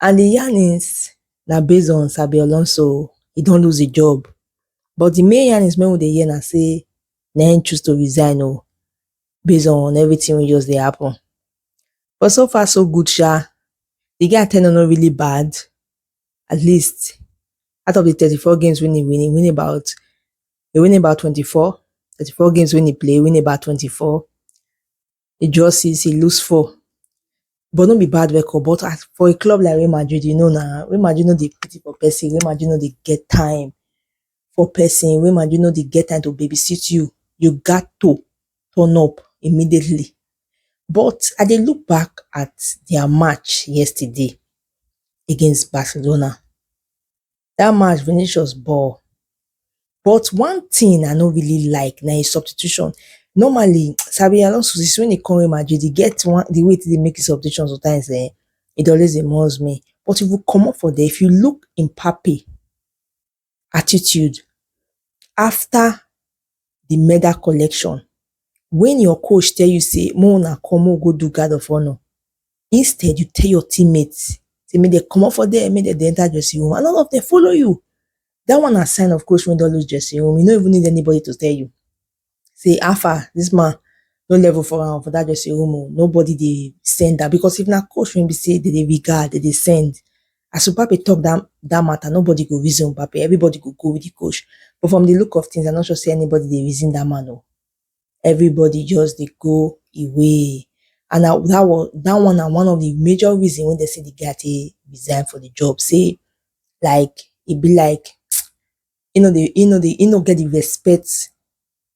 and di yarnings na base on Xabi Alonso oh, e don lose im job but di main yarnings wey we dey hear na say na im choose to resign oh base on everything wey just dey happen but so far so good sha, di guy ten ure no really bad at least out of di thirty four games wey im win, im win about im win about twenty four, thirty four games wey im play, im win about twenty four. e just is he lose four but no be bad record but as for a club like Real Madrid you know na Real Madrid no dey pity for person Real Madrid no dey get time for person Real Madrid no dey get time to babysit you you gat to turn up immediately but I dey look back at their match yesterday against Barcelona dat match Vinicius ball but one thing I no really like na him substitution normally Xabi Alonso since when he come Real Madrid he get one the way he take dey make him substitution sometimes um he dey always dey muzz me but if you comot for there if you look Mbappe attitude after the medal collection. When your coach tell you say make una come make we go do guard of honour, instead you tell your teammates say make dem comot for there, make dem dey enter dressing room and all of them follow you. That one na sign of coach wey don lose dressing room. You no even need anybody to tell you say how far this man no level for am for that dressing room o. Nobody dey send am because if na coach wey be say dem dey regard, dem dey send, as Mbappe talk that that matter, nobody go reason Mbappe. Everybody go go with the coach. But from the look of things, I'm not sure say anybody they reason that man. Oh. Everybody just they go away. And that, that was that one and one of the major reason when they say the guy they resign for the job. Say like it be like you know the you know the you know get the respect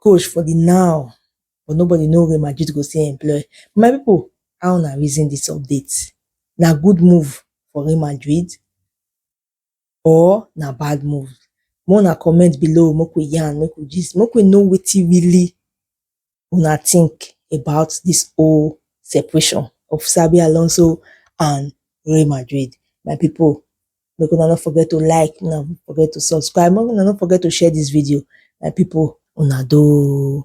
coach for the now, but nobody know Real Madrid go still employ. My people, how una reason this update? Na good move for Real Madrid or na bad move? Make una comment below, make we yarn, make we gist, make we know wetin really una think about this whole separation of Xabi Alonso and Real Madrid. My people, make una no forget to like una no forget to subscribe make una no forget to share this video my people una doh